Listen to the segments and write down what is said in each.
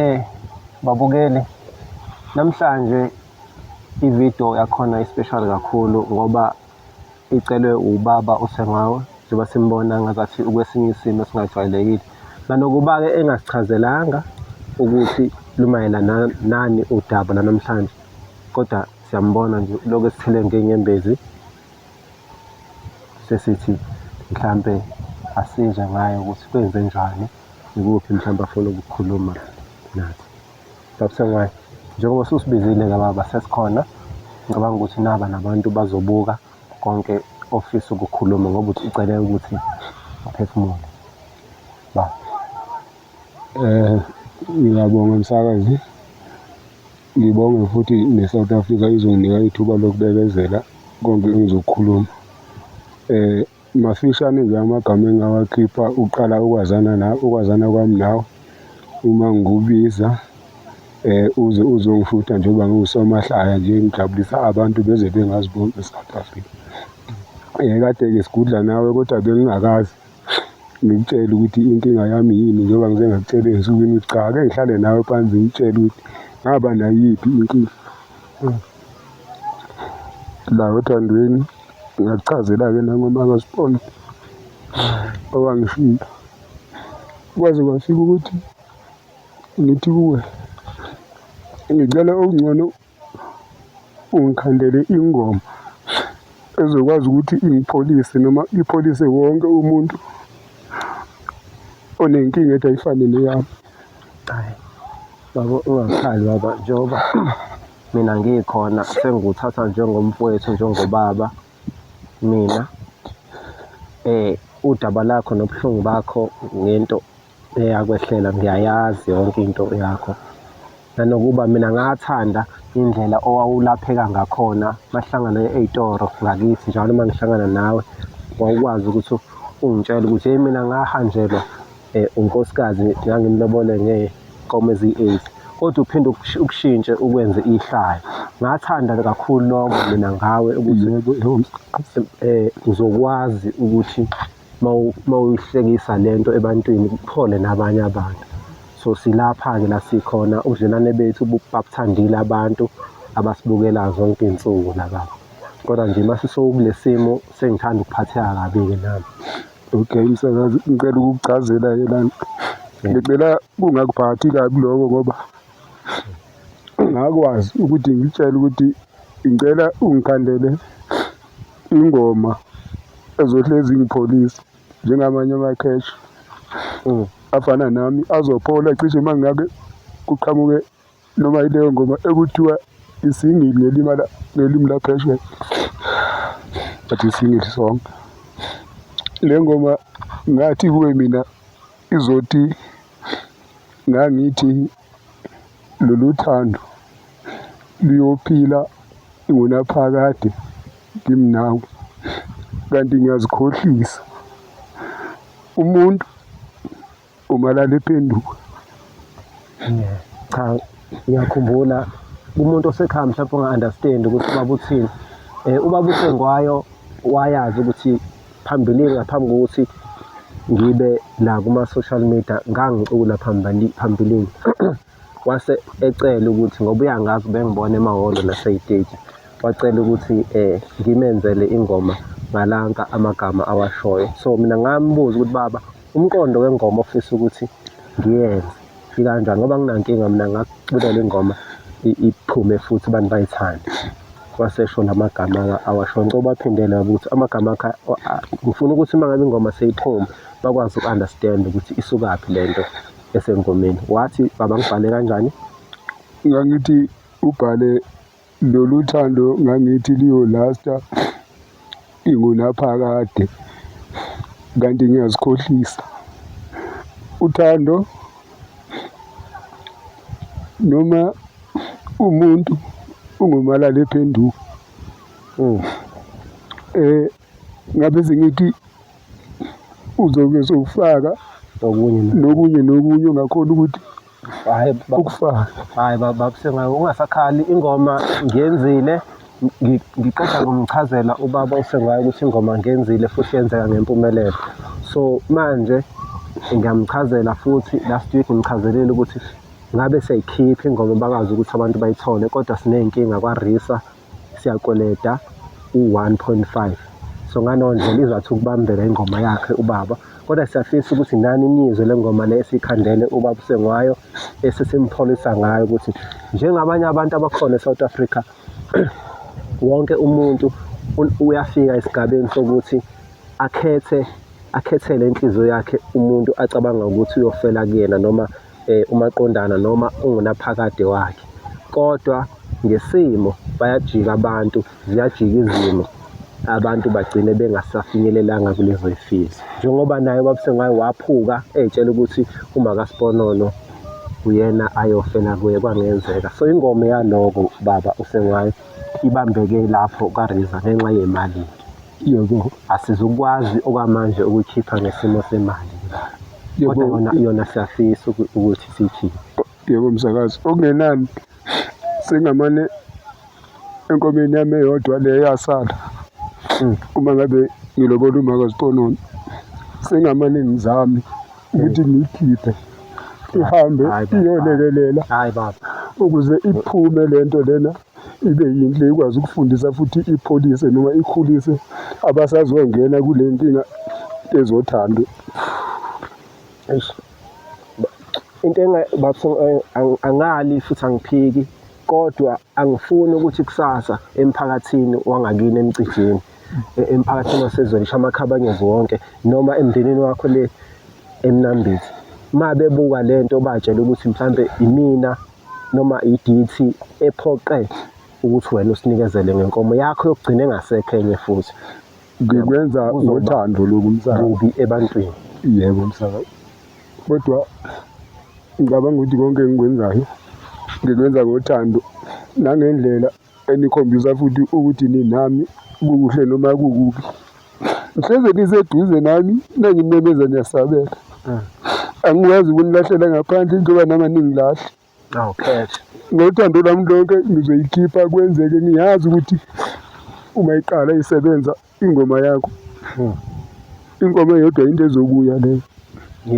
Eh babukeli namhlanje ividiyo yakhona ispeshali kakhulu ngoba icelwe ubaba uSengawe njengoba simbona ngazathi ukwesinye isimo esingajwayelekile nanokuba-ke engasichazelanga ukuthi lumayelana nani udaba lanamhlanje kodwa siyambona nje lokhu esithele ngenyembezi. sesithi mhlampe asizwe ngayo ukuthi kwenze njani ikuphi mhlawumbe afuna ukukhuluma nathi that's why njengoba susibizile-ke baba sesikhona ngicabanga ukuthi naba nabantu bazobuka konke ofisa ukukhuluma ngoba ucele ukuthi uphefumule ba Eh ngiyabonga msakazi. Ngibonge futhi ne-South Africa izonginika ithuba lokubekezela konke engizokukhuluma. Eh mafishane nje amagama engawakhipha uqala ukwazana na ukwazana kwami nawe uma ngikubiza eh uze uzongishutha njengoba ngiwusomahlaya nje ngijabulisa abantu beze bengaziboni e-South Africa. Eh kade-ke sigudla nawe kodwa bengingakazi. ngikutshele ukuthi inkinga yami yini njengoba ngize ngakutshela ensukwini ukuthi cha ake ngihlale nawe phansi ngitshele ukuthi ngaba nayiphi inkinga la othandweni ngakuchazela-ke nangoma kasibona owangishiya kwaze kwafika ukuthi ngithi kuwe ngicela okungcono ungikhandele ingoma ezokwazi ukuthi ingipholise noma ipholise wonke umuntu onenkinga ethi ayifane neyami hayi baba ungakhali baba njengoba mina ngikhona sengikuthatha njengomfowethu njengobaba mina eh udaba lakho nobuhlungu bakho ngento eyakwehlela ngiyayazi yonke into yakho nanokuba mina ngathanda indlela owawulapheka ngakhona mahlangana ey'toro ngakithi njalo uma ngihlangana nawe wawukwazi ukuthi ungitshele ukuthi hey mina ngahanjelwa um unkosikazi ngangimlobole ngey'nkomo eziyi-eight kodwa uphinde ukushintshe ukwenze ihlaya ngathanda kakhulu lokho mina ngawe ukuthi um uzokwazi ukuthi uma uyihlekisa le nto ebantwini kuphole nabanye abantu so silapha-ke la sikhona ubudlelwane bethu babuthandile abantu abasibukelayo zonke iy'nsuku la baba kodwa nje uma sisokule simo sengithanda ukuphatheka kabi-ke nami okay msakazi ngicela ukukuchazela-ke lana ngicela kungakuphathi kabi lokho ngoba ngakwazi ukuthi ngitshele ukuthi ngicela ungikhandele Ingoma ezohlezi ingipholisa njengamanye amakhesha mm. afana nami azophola cishe uma ngabe kuqhamuke noma ileyo ngoma ekuthiwa isingili ngelimala ngelimi laphesheya but isingili song le ngoma ngathi kuwe mina Izothi ngangithi lolu thando luyophila ngunaphakade ngimnawe kanti ngiyazikhohlisa umuntu umalala ephenduka cha ngiyakhumbula kumuntu osekhaya mhlawumbe onga-understand ukuthi ubaba uthini um ubaba usengwayo wayazi ukuthi Phambilini ngaphambi kokuthi ngibe la kuma-social media ngangicula phambilini wase ecela ukuthi ngoba uyangazi ubengibona emahholo naseyiteji wacela ukuthi um ngimenzele ingoma ngalanka amagama awashoyo so mina ngambuza ukuthi baba Umqondo wengoma ofisa ukuthi ngiyenze ikanjani ngoba nginankinga mina ngakuculela ingoma iphume futhi abantu bayithande wasesho la magama awasho ngicela ubaphindele baba ukuthi amagama akhe ngifuna ukuthi uma ngabe ingoma seyiphume bakwazi uku-understand ukuthi isukaphi le nto esengomeni wathi baba ngibhale kanjani ngangithi ubhale Lolu thando ngangithi liyolasta ingunaphakade kanti ngiyazikhohlisa uthando noma umuntu ungumalala ephenduka um eh, ngabe sengithi uzobe sowufaka nokunye nokunye ongakhona ukuthi Hayi baba, Ukufaka. hayi baba Sengayi ungasakhali ingoma ngiyenzile ngi- ngiqeda ngomchazela ubaba uSengayi ukuthi ingoma ngiyenzile futhi yenzeka ngempumelelo. So manje ngiyamchazela futhi last week ngimchazelile ukuthi ngabe siyayikhipha ingoma bakazi ukuthi abantu bayithole kodwa siney'nkinga kwaRisa siyakweleta u-1.5 so ngaleyo ndlela izwathi ukubambela ingoma yakhe ubaba kodwa siyafisa ukuthi nani niyizwe le ngoma le esikhandele ubaba usengwayo esesimpholisa ngayo ukuthi njengabanye abantu abakhona e-south africa wonke umuntu uyafika esigabeni sokuthi akhethe akhethele inhliziyo yakhe umuntu acabanga ukuthi uyofela kuyena noma eh, umaqondana noma ungunaphakade wakhe kodwa ngesimo bayajika abantu ziyajika izimo abantu bagcine bengasafinyelelanga kulezo zifiso njengoba naye ubabusengwayo waphuka etshela ukuthi uma kasiponono uyena ayofela kuye kwangenzeka so ingoma yaloko baba usengwayo ibambeke lapho kariza ngenxa yemali yebo asizukwazi okwamanje ukukhipha ngesimo semali kodwa yona yona siyafisa ukuthi siyikhiphe yebo msakazi okungenani sengamane enkomeni yami eyodwa le yasala hmm. uma ngabe ngilobola umaka ziconona sengamane ngizame ukuthi hmm. ngiyikhiphe ihambe iyolekelela ukuze iphume lento lena ibe yinhle ikwazi ukufundisa futhi ipholise noma ikhulise abasazongena kule nkinga ezothando into eh, angali futhi angiphiki kodwa angifuni ukuthi kusasa emphakathini wangakini emcijini e, emphakathini wasezweni shamakhabanyezi wonke noma emndenini wakho le emnambithi uma bebuka le nto batshela ukuthi mhlawumbe imina noma idithi ephoqe ukuthi wena usinikezele ngenkomo yakho yokugcina engasekho enye futhi ngikwenza ngothando lokhu msakazi kubi ebantwini yebo msakazi kodwa ngicabanga ukuthi konke engikwenzayo ngikwenza ngothando nangendlela enikhombisa futhi ukuthi ninami kukuhle noma kukubi ngihleze niseduze nami nangimemeza niyasabela mm. angikwazi ukunilahlela ngaphandle njengoba nami aningilahle awukhethe ngothando lwami lonke ngizoyikhipha kwenzeke ngiyazi ukuthi uma iqala isebenza ingoma yakho hmm. ingoma eyodwa into ezokuya leyo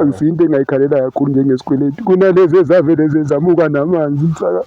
angisiyo into engayikhalela kakhulu njengesikweleti kunalezi ezavele zezamuka namanzi msaka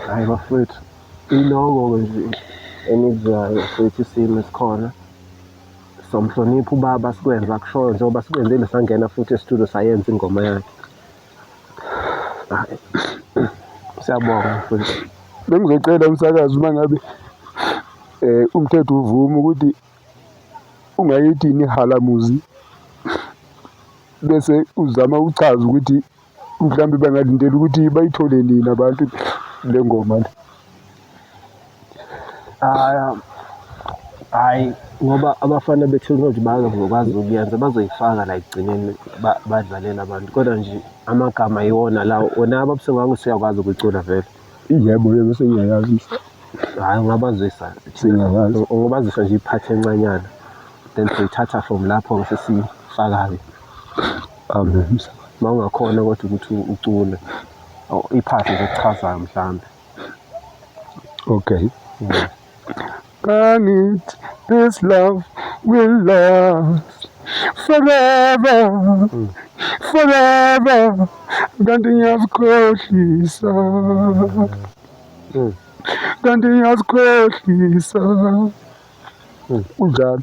hayi bafowethu iloko-ke nje engikuzayo futhi isimo esikhona somhlonipha ubaba sikwenza kushoyo njengoba sikwenzile sangena futhi esitudio sayenza ingoma yakhe Siyabonga mfowethu. Bengizocela umsakazi uma ngabe eh umthetho uvuma ukuthi ungayithi nihalamuzi bese uzama ukuchaza ukuthi mhlawumbe bangalindela ukuthi bayithole nini abantu le ngoma le. Ah, hhayi ngoba abafana be-technology bazokwazi ukuyenza bazoyifaka la ekugcineni badlalele abantu kodwa nje amagama yiwona lawo wona ababuse ngako siyakwazi ukucula vele yebo yebo sengiyayazisa hhayi ungabazisa singayazi ungabazisa nje iphathi encanyana then soyithatha from lapho ngise siyifakayo amen ma ungakhona kodwa ukuthi ucule iphathi nje kuchazayo mhlawumbe Okay. Yeah. Can it, this love will last forever, mm. forever. Kanti ngiyazikhohlisa. Mm. Kanti ngiyazikhohlisa. Mm. Unjalo.